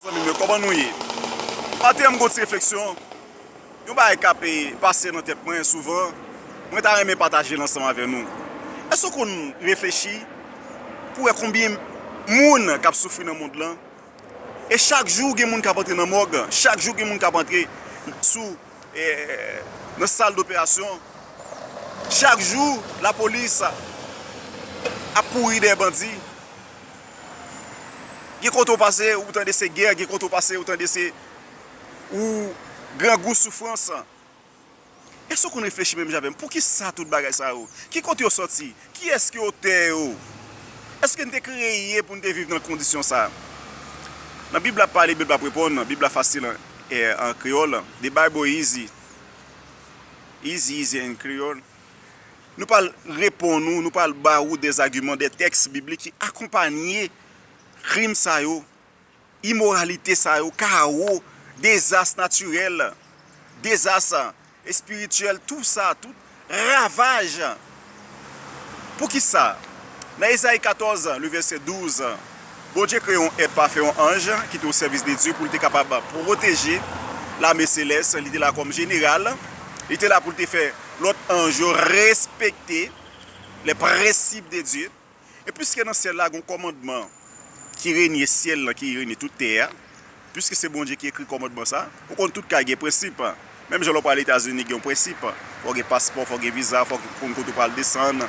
Zanmim yo koman nou ye? Pataje avm gwo ti refleksyon, yon bagay kap pase nan tèt mwen souvan, mwen ta renmen patajel ansanm avè nou. Èske ou konn reflechi pou wè konbyen moun kap soufri nan mond lan? E chak jou gen moun kap antre nan mòg, chak jou gen moun kap antre sou nan sal doperasyon, chak jou lapolis ap kouri dèyè bandi. Gen kote ou pase ou tande se gè, gen kote ou pase ou tande se ou grangou soufrans. Èske ou konn reflechi menm jan avè m? Poukisa tout bagay sa yo? Ki kote yo sòti? Kiyès ki otè yo? Èske n te kreye pou n te viv nan kondisyon sa a? Nan Bib la pale, Bib la ap reponn, Bib la fasil an kreyòl, the Bible easy, easy easy in Creole. Nou pral reponn ou, nou pral ba ou des arguments, des textes bibliques ki akonpanye krim sa yo, imoralite sa yo, kawo, dezas natirèl, dezas espirityèl, tout sa, tout ravaj. Poukisa? Nan Esaïe 14, le verset 12, Bondye kreye yon èt pafè, yon anj, ki te osèvis de Dye pou l te kapab pwoteje lame selès. Li te la kòm jeneral. Li te la pou l te fè lòt anj yo respekte lè prensip de Dye. E piske nan syèl la gen yon kòmandman ki renye syèl lan, ki renye tout tè a, Piske se Bondye ki ekri kòmandman sa, ou konn tout kay gen prensip. Menm jan lè w pral Etazini gen yon prensip, fò w gen paspò, fò w gen viza, fò w konn kote w pral desann.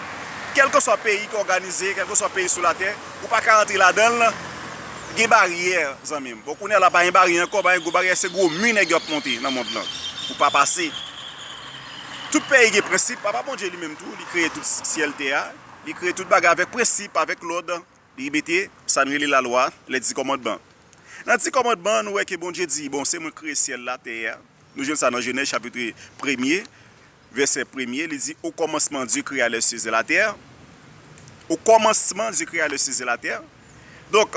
Kèlkeswa peyi ki òganize, kèlkeswa peyi sou latè, ou pa ka antre ladan l, gen baryè zanmi m. Bon kounye a la pa gen baryè ankò, pa gen gwo baryè, se gwo mi nèg yo ap monte nan mond lan pou pa pase. Tout peyi gen prensip, Papa Bondye li menm tou li kreye tout syèl tè a, li kreye tout bagay avèk prensip, avèk lòd. Li mete sa n rele lalwa, les dix commandements. Nan dix commandements nou wè ke Bondye di, bon se mwen kreye syèl la, tè a, nou jwenn sa nan Genèse chapitre premye vèsè premye li di au commencement Dieu créa les cieux et la terre au commencement Dieu créa les cieux et la terre donk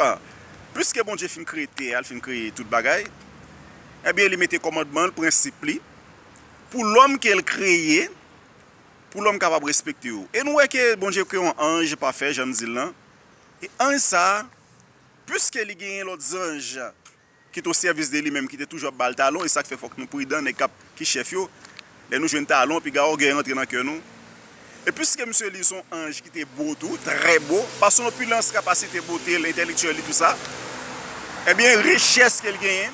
pwiske Bondye fin kreye tè a, li fin kreye tout bagay ebyen li mete kòmandman l, prensip li pou lòm ke l kreye. pou lòm kapab respekte yo. E nou wè ke Bondye kreye yon anj pafè, jan m di l lan, e anj sa a, piske li genyen lòt zanj ki te o sèvis de li menm, ki te toujou ap ba l talon, e sa k fè fòk nou pridan, nèg k ap, ki chèf yo, lè nou jwenn talon, piga ògèy rantre nan kè nou. E piske misye li se yon anj ki te bo tou, trè bo, pa son opilans, kapasite bote l, entèlektyèl li, tou sa, enben richès ke l genyen,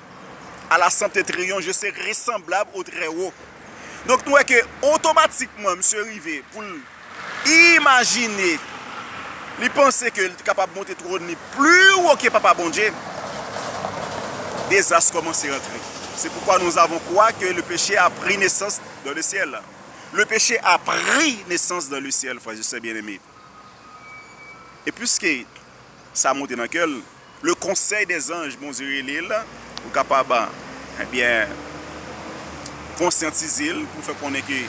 a la sante triyon je se resanblab o trè wo donk nou wè ke otomatikman misye rive pou l imajine li panse ke li te kapab monte twòn li pli wo ke papa Bondye dezas kòmanse antre se poukwa nou avon kwa ke le peche a pri nesans dan le syèl le peche a pri nesans dan le syèl frè e sè byeneme e piske sa monte nan kè l. Le conseil des anges Bondye rele l pou l kapab ebyen konsyantize l pou l fè konnen ke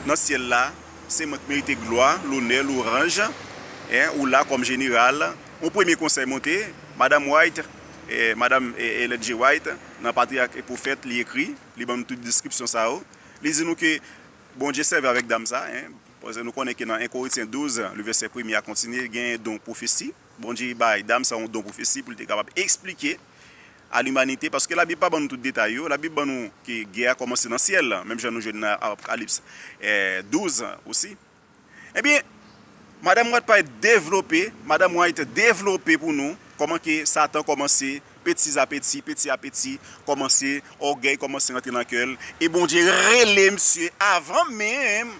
nan syèl la se mwen k merite glwa, lonè, louranj en ou la kòm jeneral yon premye konsèy monte Madam White Madam Ellen G. White nan Patriarch et Prophète li ekri li ban nou tout deskripsyon sa yo li di nou ke Bondye sèvi avèk dam sa en paske nou konnen ke nan 1 Korityen 12 le vèsè premye a kontinye genyen don pwofesi. Bondye bay dam sa yon don pwofesi pou l te kapab esplike a limanite, paske Labib pa ban nou tout detay yo. Labib ban nou ke gè a kòmanse nan syèl, menm jan nou jwenn nan Apokalips 12 osi. Ebyen, Madam White pral devlope, Madam White devlope pou nou kòman ke Satan kòmanse petizapeti, petiapeti, kòmanse, ògèy kòmanse rantre nan kè l, e Bondye rele misye avan menm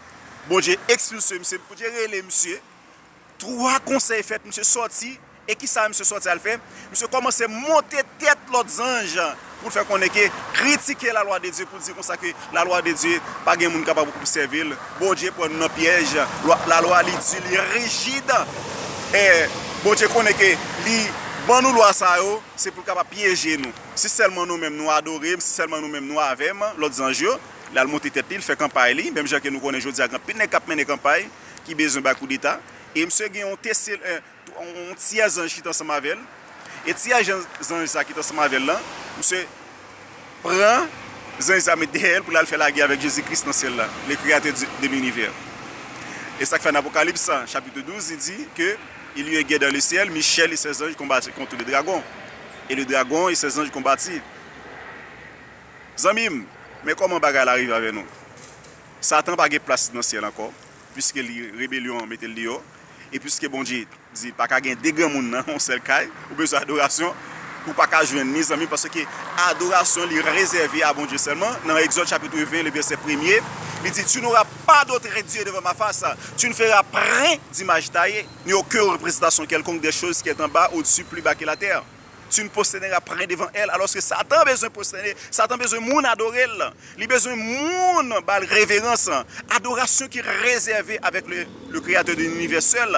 Bondye ekspilse misye, Bondye rele misye. 3 konsèy fèt misye sòti e kisa misye sòti al fè? Misye kòmanse monte tèt lòt zanj pou l fè konnen ke kritike la lwa de Dye pou l di konsa ke la lwa de Dye pa gen moun kapab obsève l, Bondye pran nou nan pyèj, la lwa li di li rijid e Bondye konnen ke li ban nou lwa sa yo se pou l kapab pyeje nou. Si sèlman nou menm nou adore m, si sèlman nou menm nou avè m, lòt zanj yo, l al monte tèt li, l fè kanpay li, menm jan ke nou konnen jodi a gen anpil nèg k ap mennen kanpay. ki bezwen bay koudeta e misye gen yon tesel yon tyè zanj ki t ansanm avè l e tyè zanj sa ki t ansanm avè l lan misye pran zanj sa met dèyè l pou l al fè lagè avèk Jezi Kris nan syèl la le kreyatè de linivè e sa k fè nan Apokalips chapitre 12 li di ke il y eut gè dans le ciel Michel et ses anges combattirent contre le dragon et le dragon et ses anges combattirent zanmi m men kòman bagay la rive avè nou. Satan pa gen plas nan syèl ankò, piske li rebelyon an mete l deyò, e piske Bondye di pa ka gen 2 granmoun nan yon sèl kay, ou bezwen adorasyon ou pa ka jwenn ni zanmi paske adorasyon li rezève a Bondye sèlman, nan Egzòd chapitre 20 le vèsè premye li di tu n'auras pas d'autre Dieu devant ma face, tu ne feras prin d'image taille, ni oken reprezantasyon kèlkonk dè choz ki èt anba, odsu, pli ba ke latè. Si nou pwostène n ap pare devan el alòske satan bezwen pwostène, satan bezwen moun adore l, li bezwen moun ba l reverans, adorasyon ki rezève avèk le kreyatè de linivè sèl,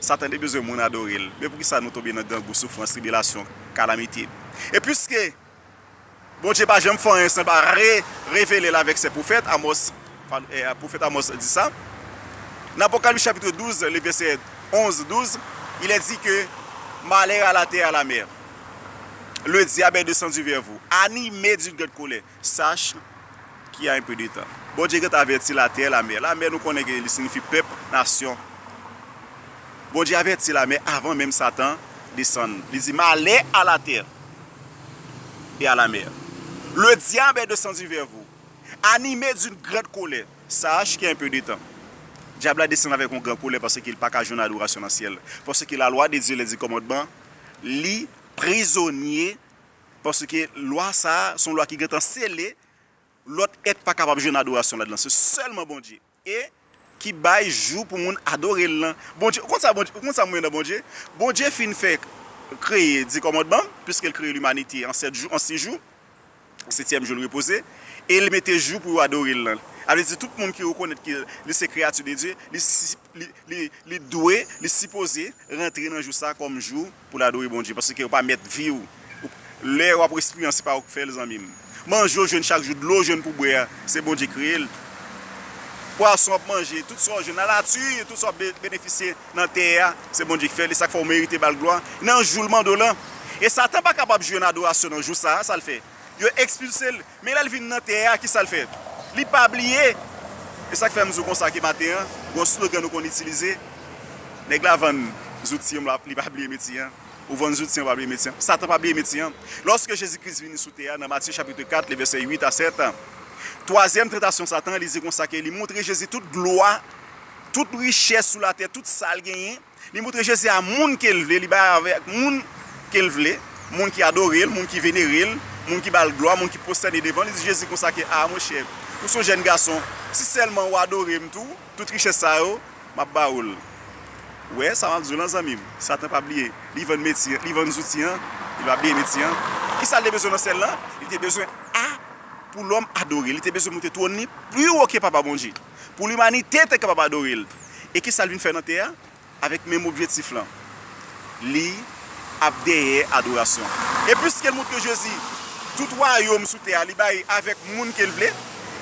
satan te bezwen moun adore l, men poukisa nou tonbe nan grangou, soufrans, tribilasyon, kalamite? E piske Bondye pa janm fè anyen san l pa re-revele l avèk sè pwofèt Amòs, pwofèt Amòs di sa. Nan Apocalypse chapitre 12 le vèsè 11, 12, il est dit que Malheur à la terre et à la mer! Le diable est descendu vers vous, animé d'une grande colère, sache qu'il y a un peu de temps. Bondye gentan avèti latè e lamè. Lamè nou konnen ke li signifi pèp, nasyon. Bondye avèti lamè avan menm Satan desann. Li di, Malè a la tè! et à la mer. Le diab est descendu vers vous, animé d'une grande colère. Sa a chke enpe de tan. Dyab la desann avèk yon gran kolè paske li pa ka jwenn adorasyon nan syèl. Paske lalwa de Dye, lè l di kòmandman, li prizonye paske lwa sa a se yon lwa ki gentan sele, lòt èt pa kapab jwenn adorasyon ladan l. Se sèlman Bondye. E, ki bay jou pou moun adore l lan. Bondye, ou konn sa Bondye, ou konn sa m renmen nan Bondye? Bondye fin fè, kreye Di Kòmandman, piske l kreye limanite an sèt jou, an si jou, setyèm jou l repoze, e l mete jou pou yo adore l lan. Sa vle di tout moun ki rekonèt ke li se kreyati de Dye, li, li, li dwe, li sipoze rantre nan jou sa kòm jou. Pou l adore Bondye paske ou pa mèt vi w lè wap respire an se pa ou k fè l zanmi m manje w jwenn chak jou dlo w jwenn pou bwè a se Bondye k kreye l pwason wap manje tout sa w jwenn nan lati tout sa wap benefisye nan tè a se Bondye k fè l e sa k fè w merite ba l glwa nan jou l mande w lan e satan pa kapab jwenn adorasyon nan jou sa a sa l fè yo ekspilse l. Men lè l vin nan tè a, ki sa l fè? Li pa bliye! E sa k fè m di w konsa ke maten an, gen yon slogan nou konn itilize, Nèg la vann zouti an, li pa bliye metye an. Ou vann zouti an, ou pa bliye metye an. Satan pa bliye metye an. Lòske Jezi Kris vini sou tè a nan Matye chapitre 4, lè vèsè 8 a 7, twazyèm tantasyon Satan an, li di konsa ke li montre Jezi tout glwa, tout richès sou latè, tout sa l genyen, Li moutre Jezi a moun ke l vle, li bay avèk moun ke l vle, moun ki adore l, moun ki venere l, moun ki ba l glwa, moun ki pwostène devan l. Li di Jezi konsa ke, A, monchè, ou se yon jèn gason, si sèlman ou adore m tou, tout richès sa yo, m ap ba ou l. Ou wè sa m ap di w lan, zanmi m? Satan pa bliye, li vann meti, li vann zouti an, li pa bliye meti an. Kisa l te bezwen nan syèl la? Li te bezwen a pou lòm adore l, li te bezwen moute twòn li pi wo ke Papa Bondye. pou limanite te kapab adore l. E ki sa l vin fè nan tè a? Avèk menm objektif lan, li ap dèyè adorasyon. E piske l montre Jezi tout wayòm sou tè a li bay avèk moun ke l vle,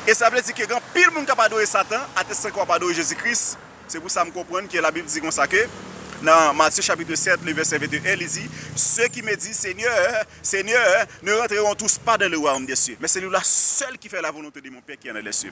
e sa vle di ke gen anpil moun k ap adore Satan atestan ke w ap adore Jezi Kris. Se pou sa m konprann ke Labib di konsa ke nan Matye chapitre 7 le vèsè 21 li di, Ceux qui me disent, Seigneur, Seigneur, ne rentreront tous pas dans le royaume des cieux, mais celui-là seul qui fait la volonté de mon Père qui est dans les cieux.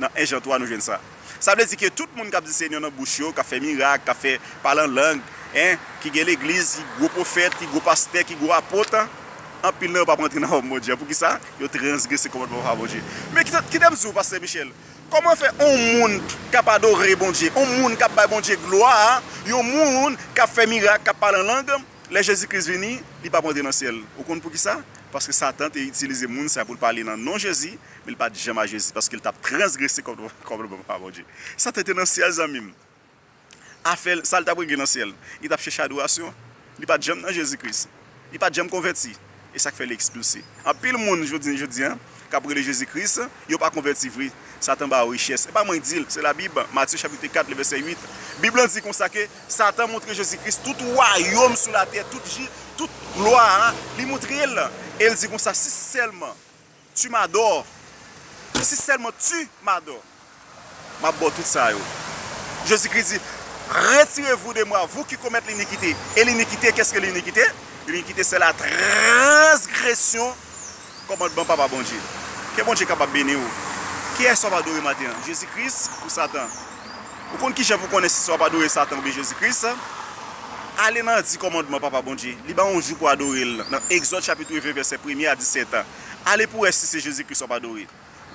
Nan 1 Jan 3 nou jwenn sa. Sa vle di ke tout moun kap di Senyè nan bouch yo, kap fè mirak, kap fè pale an lang, en, ki gen legliz, ki gwo pwofèt, ki gwo pastè, ki gwo apot, anpil nan yo pap rantre nan wayom Bondye a. Poukisa? Yo transgrese kòmandman Papa Bondye. Men kite, kite m di w, Pastè Michel, kòman fè on moun kap adore Bondye, on moun kap bay Bondye glwa, yon moun kap fè mirak, kap pale an lang, lè Jezi Kris vini, li pap rantre nan syèl? Ou konn poukisa? Paske Satan te itilize moun sa pou l pale nan non Jezi, Men li pa t janm a Jezi paske li t ap transgrese kòmandman pa Bondye. Sa te te nan syèl zanmi m. Afè l, sa l t ap regle nan syèl? Li t ap chèche adorasyon. Li pa t janm nan Jezi Kris. Li pa t janm konvèti. E sa k fè li ekspilse? Anpil moun jounen jodi a k ap rele Jezi Kris, yo pa konvèti vre. Satan ba yo richès. E pa mwen k di l, se Labib, Matye chapit 4 lè vèsè 8. Bib lan di konsa ke Satan montre Jezi Kris tout wayòm sou latè, tout glwa a, li montre l. E l di konsa, Si sèlman. Tu m'adore Ou si sèlman tu m'adore M'ap ba w tout sa yo Jezi Kris di Retire vou de mwa vou ki komèt linikite E linikite kès ke linikite? Linikite se la transgresyon kòmandman Papa Bondye Ke Bondye kapab beni w Kiyès w'ap adore maten an? Jezi Kris ou Satan? Ou konn kijan pou konnen si se w'ap adore Satan oubyen Jezi Kris? Ale nan di kòmandman Papa Bondye Li ba w yon jou pou adore l nan Egzòd chapit 20 vèsè premye a disèt Ale pou wè si se Jezi Kris w ap adore.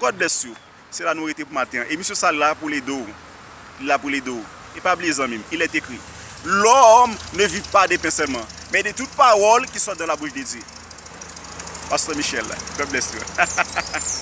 God bless you. Se la nou rete pou maten an. Emisyon sa la pou l ede w. Li la pou l ede w. E pa bliye zanmi m, il est écrit, L'homme ne vit pas de pain seulement, mais de toute parole qui sort de la bouche de Dieu. Pasteur Michel, God bless you.